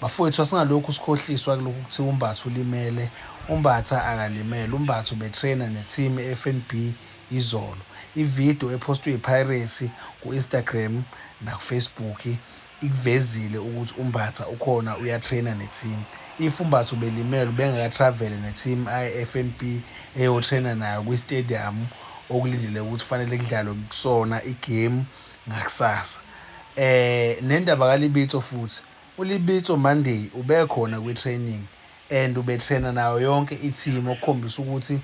Bafowethu asingalokhu sikhohliswa kulokhu ukuthi uMbatha ulimele. UMbatha akalimele. UMbatha ubetraina ne-team e-FNB izolo. Ividiyo ephostwe iPirates ku-Instagram nakuFacebook ikuvezile ukuthi uMbatha ukhona uyatraina ne-team. If uMbatha ubelimele ubengaka-travel ne-team i-FNB eyotraina nayo kwi-stadium okulindele ukuthi fanele kudlalwe kusona igemu. ngakusasa eh nendaba kaLibitso futhi uLibitso Monday ubekhona kwi-training and ubetraina nayo yonke i-team okukhombisa ukuthi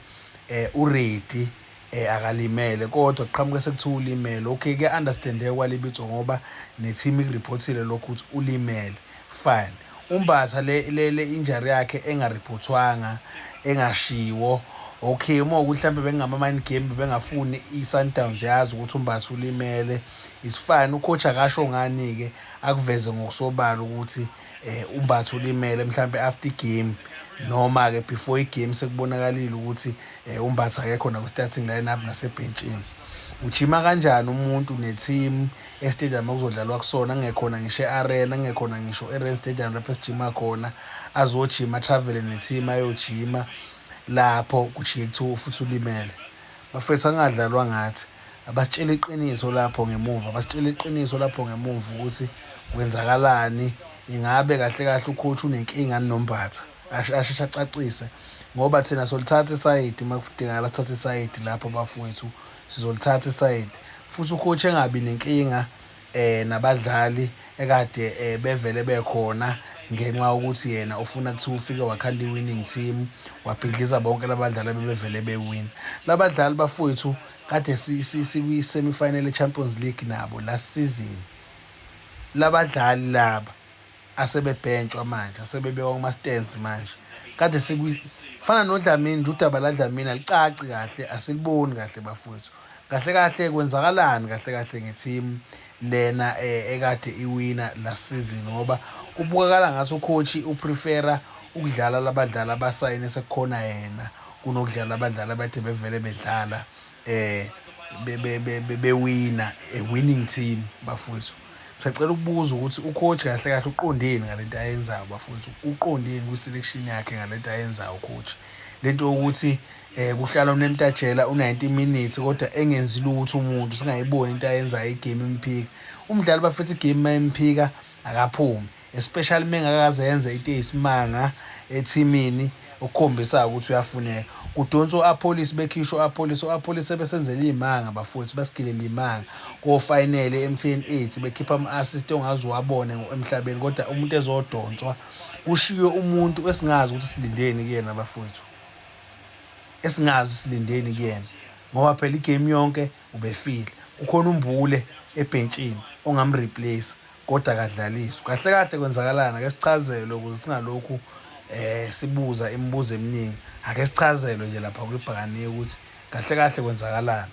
eh uready eh akalimele kodwa kuqhamuke sekuthiwa ulimele okay kuya-understandeka kwaLibitso ngoba ne-team ikuriphothile lokhu ukuthi ulimele fine UMbatha le le le injury yakhe engariphothwanga engashiwo okay uma ukuthi mhlawumbe bekungama mind game bengafuni iSundowns yazi ukuthi uMbatha ulimele isifana ucoach akasho ngani ke akuveze ngokusobala ukuthi eh uMbatha ulimele mhlawumbe after game noma ke before igame sekubonakalile ukuthi eh, uMbatha akekho nakwi starting lineup nasebhentshini ujima kanjani umuntu neteam estadium okuzodlalwa kusona kungekhona ngisho e-arena kungekhona ngisho e-ren stadium lapho esijima khona azojima atravele ne-team ayojima lapho kujike kuthiwa futhi ulimele bafethu angadlalwa ngathi abasitshela iqiniso lapho ngemuva abasitshela iqiniso lapho ngemuva ukuthi kwenzakalani ingabe kahle kahle ukhothi unenkinga nombatha asheshe acacise ngoba thina solithatha isayidi uma kudingakala sithathe isayidi lapho bafowethu Sizolithatha isayidi futhi ucoach engabi nenkinga eh nabadlali ekade eh, bevele bekhona ngenxa yokuthi yena ufuna kuthiwa ufike wakhanda i-winning team wabhidliza bonke labadlali abebevele bewin labadlali bafowethu kade sikwi-semifinal e-champions league nabo last season labadlali laba asebebhentshwa manje asebebekwa kuma stands manje kade sikwi fana nodlamini nje udaba la dlamini alicaci kahle asiliboni kahle bafowethu kahle kahle kwenzakalani kahle kahle ngeteam lena eh, ekade iwina last season ngoba kubukakala ngathi ucoach uprefera ukudlala labadlali abasayine sekukhona yena kunokudlala abadlali abathe bevele bedlala eh bewina a winning team bafowethu sacela ukubuza ukuthi ucoach kahle kahle uqondeni ngalento ayenzayo bafowethu uqondeni kwi-selection yakhe ngalento ayenzayo ucoach lento yokuthi eh kuhlala unemtajela u90 minutes kodwa engenzi lutho umuntu singayiboni into ayenzayo igame imphika umdlali bafethu igame mayimphika akaphumi especially mengakaze yenze into eyisimanga ethimini okukhombisa ukuthi uyafuneka kudonsa u-apolice bekhishwa u-apolice u-apolice sebesenzela iy'manga bafowethu basigilela iy'manga kofinele emthn eight bekhipha ama-assist ongaze uwabone emhlabeni kodwa umuntu ezodonswa kushiywe umuntu esingazi ukuthi silindeni kuyena bafowethu esingazi silindeni kuyena ngoba phela igame yonke ubefile ukhona umbule ebhentshini ongamreplace Kodwa akadlaliswa. Kahle kahle kwenzakalani ake sichazelwe ukuze singalokhu eh sibuza imibuzo eminingi. Ake sichazelwe nje lapha kwibhakaniye ukuthi kahle kahle kwenzakalani.